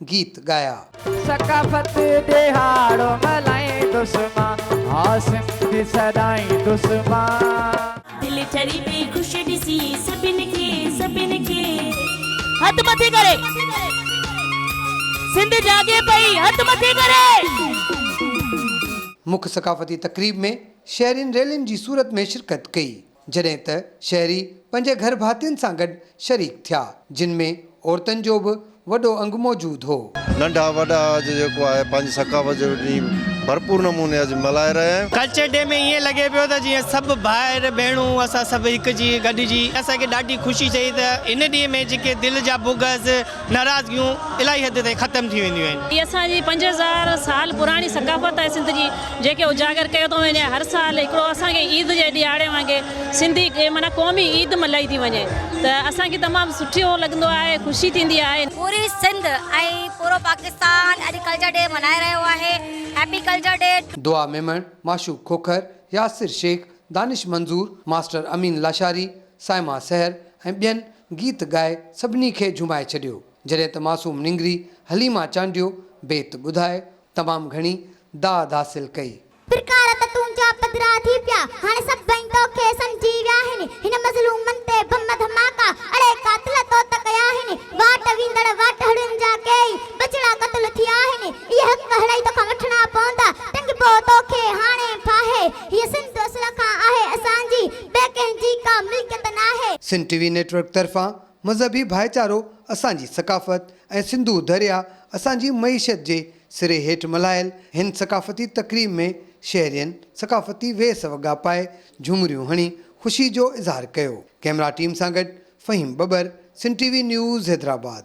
گيت ڳايا. ثقافت ڏهاڙو ملهائيندس مان. ها سنڌ سڏائيندس مان. دل ٺري پئي خوش ڏسي سڀن کي سڀن کي. هٿ مٿي ڪري سنڌ جاڳي پئي هٿ مٿي ڪري. مک ثقافتي تقريب ۾ شهرين ريلين جي صورت ۾ شرڪت ڪئي. جڏهن ته شهري پنهنجي گهر ڀاتين سان گڏ شريڪ ٿيا، جن ۾ عورتن جو به وڏو انگ موجود هو. ننڍا وڏا اڄ جيڪو آهي پنهنجي ثقافت جو ڏينهن ڀرپور نموني اڄ ملهائي رهيا آهيون. ڪلچر ڊي ۾ ائين لڳي پيو ته جيئن سڀ ڀائر ڀيڻون اسان سڀ هڪ جي گڏجي اسان کي ڏاڍي خوشي ٿئي ته هن ڏينهن ۾ جيڪي دل جا بغض، ناراضگيون الاهي حد تائين ختم ٿي وينديون آهن. هي اسان جي پنج هزار سال پراڻي ثقافت آهي سنڌ جي جنهنکي اجاگر ڪيو ٿو وڃي هر سال هڪڙو اسان کي عيد جي ڏهاڙي وانگي سنڌي معنيٰ قومي عيد ملهائي ٿي وڃي ته اسان کي تمام سٺو لڳندو آهي خوشي ٿيندي آهي. پوري سنڌ ۽ پورو پاڪستان اڄ ڪلچر ڊي ملهائي رهيو آهي happy culture day. Dua Memon, Mashooq Khokhar, Yasir Shaikh, Danish Manzoor, master Amin Lashari, Saima Sahar ۽ ٻين گيت ڳائي سڀني کي جهومائي ڇڏيو. جڏهن ته معصوم نينگري حليما چانڊيو بيت ٻڌائي تمام گهڻي داد حاصل ڪئي. پرڪار ته تنهنجا پڌرا ٿي پيا، هاڻي سڀئي توکي سمجهي ويا آهن، هن مظلومن تي بم ڌماڪا، اڙي قاتل تو ته ڪيا آهن، واٽ ويندڙ واٽهڙين جا ڪيئي ٻچڙا قتل ٿيا آهن، اهي حق هڙئي توکان وٺڻا پوندا، ٽنگبو توکي هاڻي ڦاهي، هيء سنڌ اصل کان آهي اسان جي، ٻئي ڪنهن جي ڪا ملڪيت ناهي. سنڌ ٽي وي نيٽورڪ طرفان مذهبي ڀائيچارو اسان جي ثقافت ۽ سنڌو درياء اسان جي معيشت جي سري هيٺ ملهايل هن ثقافتي تقريب ۾ شهرين ثقافتي ويس وڳا پائي جهومريون هڻي خوشي جو اظهار ڪيو ڪئمرا ٽيم سان گڏ Faheem Babbar Sindh T V news Hyderabad.